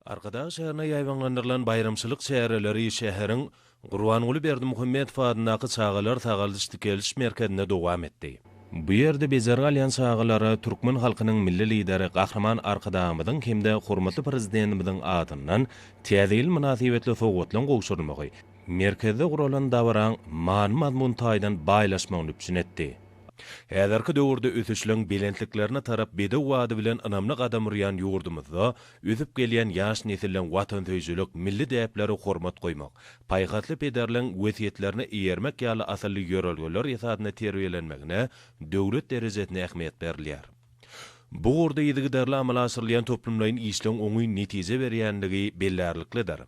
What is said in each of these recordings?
Arkadag şäherine ýaýbaňlandyrylan baýramçylyk çäreleri şäheriň Gurbanguly Berdimuhamedow adyndaky çagalar sagaldyş-dikeliş merkezinde dowam etdi. Bu ýerde bejergi alýan çagalara türkmen halkynyň Milli Lideri Gahryman Arkadagymyzyň hem-de hormatly Prezidentimiziň adyndan Täze ýyl mynasybetli sowgatlaryň gowşurylmagy, merkezde guralan dabaraň many-mazmun taýdan baýlaşmagyny üpjün etdi. Häzirki döwürde ösüşleň belentliklerine tarap bedew ady bilen ynamly gadam urýan ýurdumyzda Ösüp gelýän ýaş nesliň watansöýüjilik, milli däplere hormat goýmak, paýhasly pederleň wesýetlerine eýermek ýaly asylly ýörelgeler esasynda terbiýelenmegine döwlet derejesinde ähmiýet berilýär. Bu ugurda yzygiderli amala aşyrylýan toplumlaýyn işleň oňyn netije berýändigi bellärliklidir.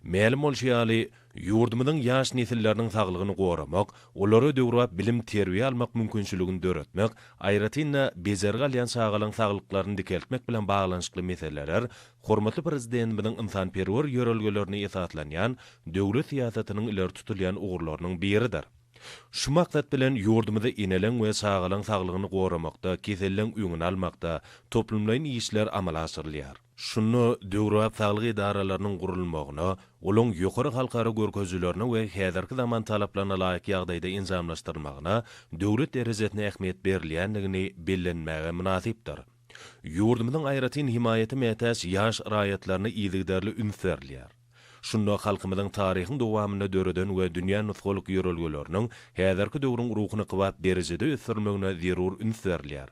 Mälim bolşy ýaly, ýurdumyzyň ýaş nesilleriniň saglygyny goramak, olara döwrebap bilim-terbiýe almak mümkinçiligini döretmek, aýratyn-da, bejergi alýan çagalaryň saglyklaryny dikeltmek bilen baglanyşykly meseleler hormatly Prezidentimiziň ynsanperwer ýörelgelerine esaslanýan döwlet syýasatynyň ileri tutulýan ugurlarynyň biridir. Şu maksat bilen, ýurdumyzda eneleň we çagalaň saglygyny goramakda, keselleň öňüni almakda toplumlaýyn işler amala aşyrylýar. Şunda döwrebap saglyk edaralarynyň gurulmagyna, olaň ýokary halkara görkezilerine we häzirki zaman talaplaryna laýyk ýagdaýda enjamlaşdyrylmagyna döwlet derejesinde ähmiýet berilýändigini bellenmäge mynasypdyr. Ýurdumyzyň aýratyn himaýata mätäç ýaş raýatlaryna yzygiderli üns berilýär. Şunda halkymyzyň taryhyň dowamynda döreden we dünýä nusgalyk ýörelgeleriniň häzirki döwrüň ruhuna kybap derejede ösdürilmegine zerur üns berilýär.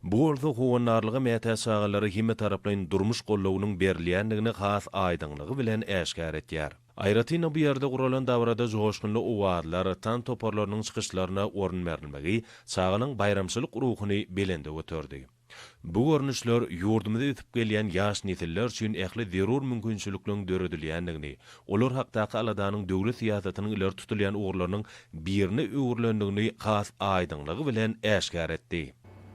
Bu bolsa howandarlyga mätäç çagalara hemmetaraplaýyn durmuş goldawynyň berilýändigini has aýdyňlygy bilen äşgär etýär. Aýratyn-da bu ýerde guralan dabarada joşgunly owazlar, tans toparlarynyň çykyşlaryna orun berilmegi çagalaryň baýramçylyk ruhuny belende göterdi. Bu görnüşler ýurdumyza ösüp gelýän ýaş nesiller üçin ähli zerur mümkinçilikleriň döredilýändigini, olar hakdaky aladanyň döwlet syýasatynyň ileri tutulýan ugurlarynyň birine öwrülendigini has aýdyňlygy bilen äşgär etdi.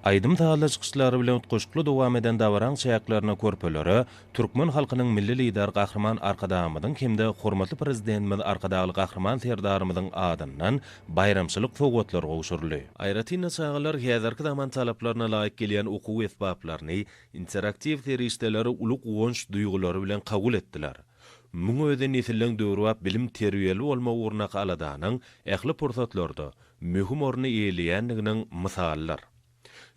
Aýdym-sazly çykyşlary bilen utgaşykly dowam eden dabaraň çäklerinde körpelere türkmen halkynyň Milli Lideri Gahryman Arkadagymyzyň hem-de hormatly Prezidentimiz Arkadagly Gahryman Serdarymyzyň adyndan baýramçylyk sowgatlary gowşuryldy. Aýratyn-da, çagalar häzirki zaman talaplaryna laýyk gelýän okuw esbaplaryny, interaktiw serişdeleri uly guwanç duýgulary bilen kabul etdiler. Muň özi nesilleň döwrebap bilim-terbiýeli bolmak ugrundaky aladanyň ähli pursatlarda möhüm orny eýeleýändiginiň mysalydyr.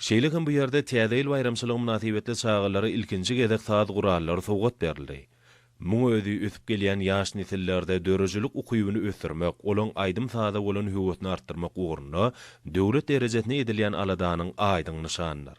Şeýle hem bu ýerde Täze ýyl baýramçylygy mynasybetli çagalara ilkinji gezek saz gurallary sowgat berildi. Muň özi ösüp gelýän ýaş nesillerde döredijilik ukybyny ösdürmek, olaň aýdym-saza bolan höwesini artdyrmak ugrunda döwlet derejesinde edilýän aladanyň aýdyň nyşanydyr.